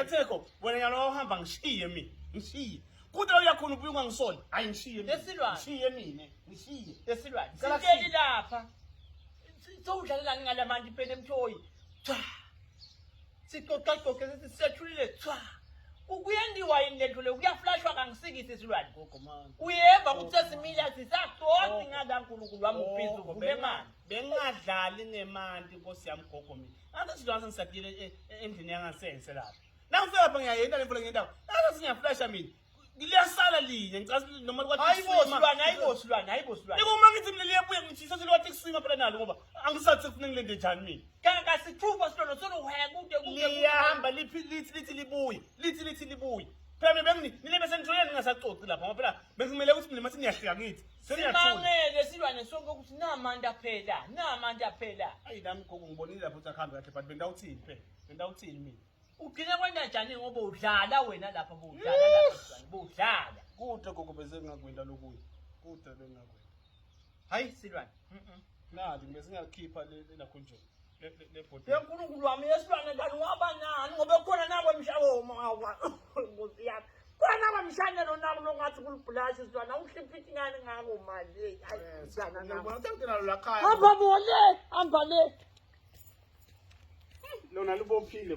Atheko wena nyalo wahamba ngishiye mina ngishiye kude uyakhona ubuye ungangisoli hayi ngishiye mina Esilwane. ngishiye mina ngishiye esilwane Cela siteli sithe. lapha sowudlalelani ngala manje impela emthoyi cha sixoxaxoxe sithi sethulile cha Ku- kuyendiwa yini lento le kuyaflashwa kangisikisi isilwane gogo manje uyeva ukuthi sesimila sisaxoxi ngala nkulunkulu wami ubhizi uvule manje bengadlali ngemanti nkosi yami gogo mina Angithi izinto asengisabiyele e- e- endlini yangasense lapho. Nangifika lapha ngiyayenda le mvula ngendawo. Angithi ngiyaflasha mina. Liyasala linye ngicasa ukuthi noma kwathi Hayi bo kusima- silwane, hayi bo silwane, hayi bo silwane. Yiko uma ngithi mina liyabuya ngithi sase liwathi kusima phela nalo ngoba angisathi sekufuneka ngilende njani mina. Kanti kasithupha silwane soluhaya kude kude. liyahamba liphi lithi lithi libuye lithi lithi libuye phela mina bengi nile besenitholeni ningasaxoxi lapha ngoba phela bekumele ukuthi mina mathi niyahlika ngithi Simangele silwane sonke ukuthi namanda phela, namanda phela. Ayi nami gogo ngibonile lapho ukuthi akuhambe kahle but bendawuthini phela. Bendawuthini mina. Ugcina kwenda njani ngoba udlala wena lapha budlala lapha budlala. Kude gogo bese ngingakwenda lokuya. Kude bengingakwenda. Hayi silwane. Mhm. Nali ngibe singakhipha le lakho nje. yenkulunkulu wami yesilwane kanti waba nani ngoba kukhona nabo mshawomawa nkosi yami khona nabo mshanelo nabo nokungathi kulibhulashi isilwane awuhlipha ingane ngako manje hamba bole hamba le lona lubophile